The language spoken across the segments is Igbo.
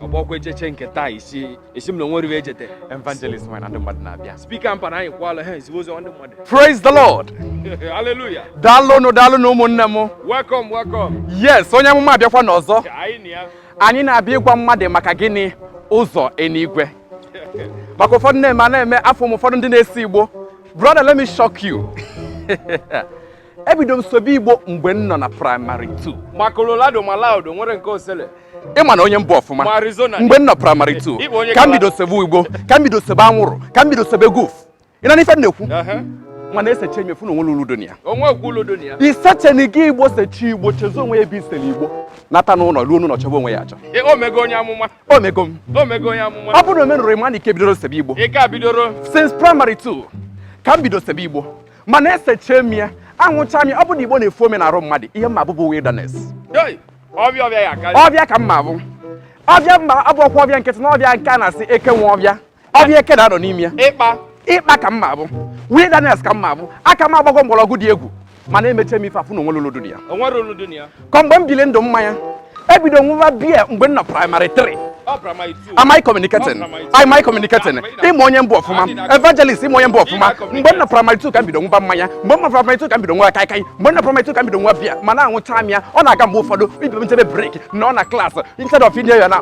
ọgbọkwa echeche nke taa isi esi m na onwe riwe echete evangelist nwere na ndị mmadụ na-abịa speaker mpa na anyị kwala ha ezigbo ozi ndị mmadụ praise the lord hallelujah daalụnụ daalụnụ ụmụnne m welcome welcome yes onye amụma abịakwana ọzọ anyị na-abịa ịgwa mmadụ maka gịnị ụzọ enigwe maka ụfọdụ na-eme a na-eme afọ m ụfọdụ ndị na-ese igbo brother let me shock you ebido m sebe igbo mgbe m nọ na primary 2 ma colorado ma loud o nwere nke o sele ịma na onye m bụ ọfụma Ma Arizona. mgbe m nọ primary Ị- ị bụ onye 2 ka m kala- bido sebe igbo ka m bido sebe anwụrụ ka m bido sebe goof ị na-anụ ife m na-ekwu Ehe. mana esecha m wee fụ na onwerọ ulu dị na ya onwe okwu ulu dị na ya isecheni gị igbo secha igbo chezo onwe ya ebe i sere igbo nata n'ụlọ ruo n'ụlọ chọba onwe ya achọ Ị- o mego onye amụma o mego m o mego onye amụma ọ bụrụ na omenụrụ ịma na ị ka bidoro sebe igbo ị ka bidoro since primary 2 ka m bido sebe igbo mana esecha m ya anwụcha m ya ọ bụ na igbo na-efu ome n'arụ mmadụ ihe m ma-abụ bụ wilderness ọvịa ka m ma-abụ ọvịa m ma-abụrọkwa ọvịa nkịtị na ọvịa nke a na-asị eke nwe ọvịa ọvịa eke na-anọ n'ime ya ikpa ka m ma-abụ wilderness ka m ma-abụ aka m agbago mgbọrọgwụ dị egwu mana emecha m ife a fụ na onwerọ ulu dị na ya ka mgbe m bili ndụ mmanya ebido m nwụwa beer mgbe m nọ primary 3 Am I communicating? Am I communicating? Ịma onye mbụ ọfụma, evangelist ịma onye mbụ ọfụma. Mgbe m nọ primary 2 ka m bido nwụba mmanya, mgbe m nọ primary 2 ka m bido nwụwa kaikai, mgbe m nọ primary 2 ka m bido nwụwa beer, mana aṅụcha m ya, ọ na-aga mgbe ụfọdụ ibe m jebe break nọ na class instead of inye ya na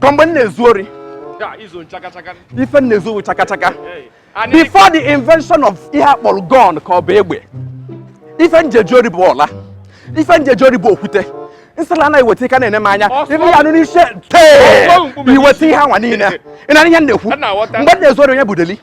ka mgbe m na-ezu ori ife m na-ezu owu chakachaka before the invention of ihe akpọrọ gun ka ọ bụ egbe ife m ji eje ori bụ ọla ife m ji eje ori bụ okwute m sịla gị weta ị ka na-ene m anya ife ị ya-anụ n'isi tee i weta ihe anwa niile ị na-anụ ihe m na-ekwu mgbe m na-ezu ori onye bụ deli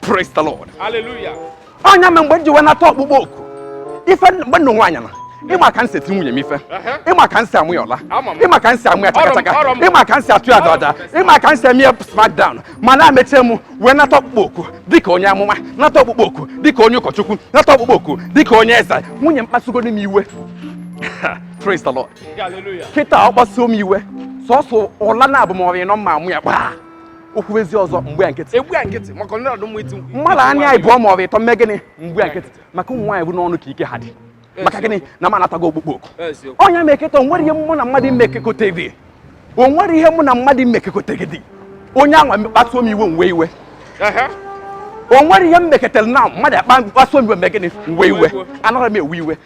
Praise the Lord. Hallelujah. Onye ama mgbe m ji wee nata ọkpụkpọ oku ife mgbe m nụ nwaanyị na ịma ka m si eti nwunye m ife ịma ka m si ama ya ọla ịma ka m si ama ya chakachaka ịma ka m si atụ ya dada ịma ka m si eme ya smackdown mana emecha m wee nata ọkpụkpọ oku dịka onye amụma nata ọkpụkpọ oku dịka onye ụkọchukwu nata ọkpụkpọ oku dịka onye eze nwunye m kpasugonụ m iwe praise the lord kịtaa ọ kpasuo m iwe sọsọ ụla naabụ ma ọ rị ịnọ m ma-ama ya gbaa o kwuezie ọzọ m gba nkịtị agba ya nkịtị maka ndị ọdụm iti mkpu. mmadụ anya ịbụọ ma ọ bụ ịtọ m mee gịnị m gba ya nkịtị maka ụmụ nwaanyị bụ n'ọnụ ka ike ha dị maka gịnị na m anatago ọkpụkpọ oku Eziokwu. onye meketa onwere ihe mụ na mmadụ mmekekọta gị onwere ihe mụ na mmadụ mmekekọta gị dị onye anwa kpasuo m iwe m wee iwe Ehe. onwere ihe m meketara na mmadụ akpa kpasuo m iwe mee gịnị m wee iwe Iwe. anaghị m ewe iwe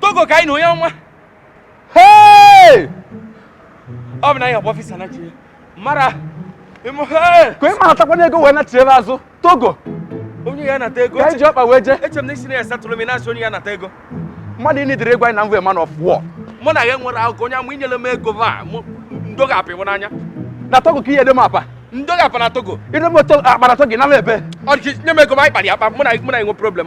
togo ka anyị na onye ọma ọ bụ na anyị agba ọfịsa na chi mara ka ị ma atakwana ego wee nachiere azụ togo onye ya nata ego ka iji ọkpa wee jee eche m na isi na ya satụrụ m na-asị onye ya nata ego mmadụ ịnị dịrị egwu anyị na mwe man of war mụ na ya nwere akụkọ onye amụ inyere m ego va ndo ga-apịwụ n'anya na togo ka ihe dị m akpa ndo ga-apa na togo ịdị m akpa na togo n'ala ebe ọ dị nye m ego ma anyị kpara ya akpa mụ na mụ na enwe problem